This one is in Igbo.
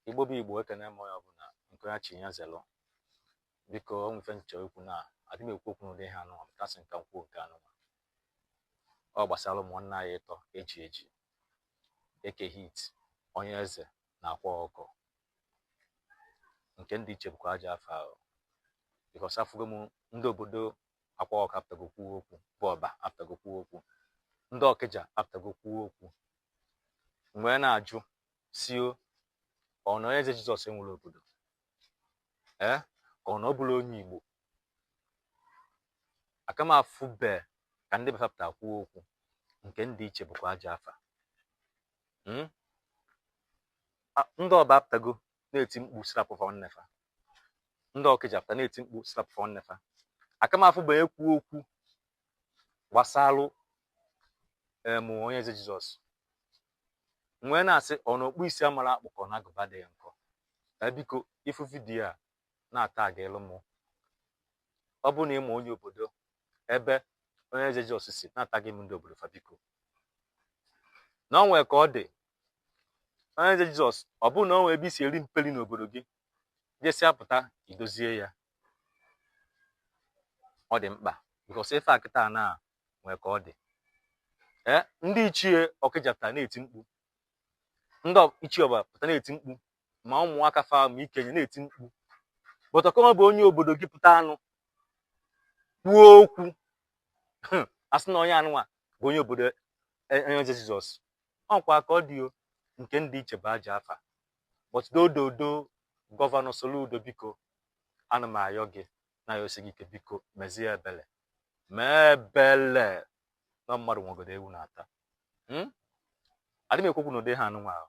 igbo bụ igbo ekene m onye ọbụla nke ya chi ya zelụ biko o nwee ife m chọ ikwu na adị m ekwu okwu n'ụdị ihe anụnwa m ka sị m ka m kwuo nke anụnwa ọ gbasara ụmụnna anyị ịtọ e ji eji eke hit onye eze na akwa ọkụkọ nke ndị iche bụkwa aja afa ahụ because afụgo m ndị obodo akwa ọkụkọ apụtago kwuo okwu bụ ọba apụtago kwuo okwu ndị ọkịja apụtago kwuo okwu m wee na-ajụ sị o ọ na onye eze jizọs enwerọ obodo ee ka ọ na ọ bụrọ onye igbo aka m afụbe ka ndị be fa pụta kwuo okwu nke ndị iche bụkwa aja afa Mm? A- ndị ọba apụtago na-eti mkpu sị rapụ nwanne fa ndị ọkịja apụta na-eti mkpu sị rapụ nwanne fa aka m afụbe onye kwu okwu gbasalụ em onye eze jizọs m wee na-asị ọ na ọkpụ isi amarọ akpụ ka ọ na agụba adịrọ nkọ ee biko ị fụ vidiyo a na-atagịlụ mụ ọ bụrụ na ị ma onye obodo ebe onye eze Jizọs si na-atagị m ndị obodo fa biko na ọ nwere ka ọ dị onye eze Jizọs ọ bụrụ na ọ nwere ebe i si eri mperi n'obodo gị jesi apụta idozie ya ọ dị mkpa because ife a kịta na nwee ka ọ dị ee ndị ichie ọkịja pụtara na-eti mkpu ndị ichie ọba pụtara na-eti mkpu ma ụmụaka fa ma ikenye na-eti mkpu but ọ ka nwebe onye obodo gị pụtanụ kwuo okwu sị na onye anụnwa bụ onye obodo e, onye eze jizọs o nwekwa ka ọ dị nke ndị iche bụ aja afa but ododo gọvanọ soludo biko ana m ayọ gị na-ayọsi gị ike biko mezie ebele mee ebele na mmadụ nwegodo ewu na-ata hmm? adị m ekwu okwu na ụdị ihe anụnwa ahụ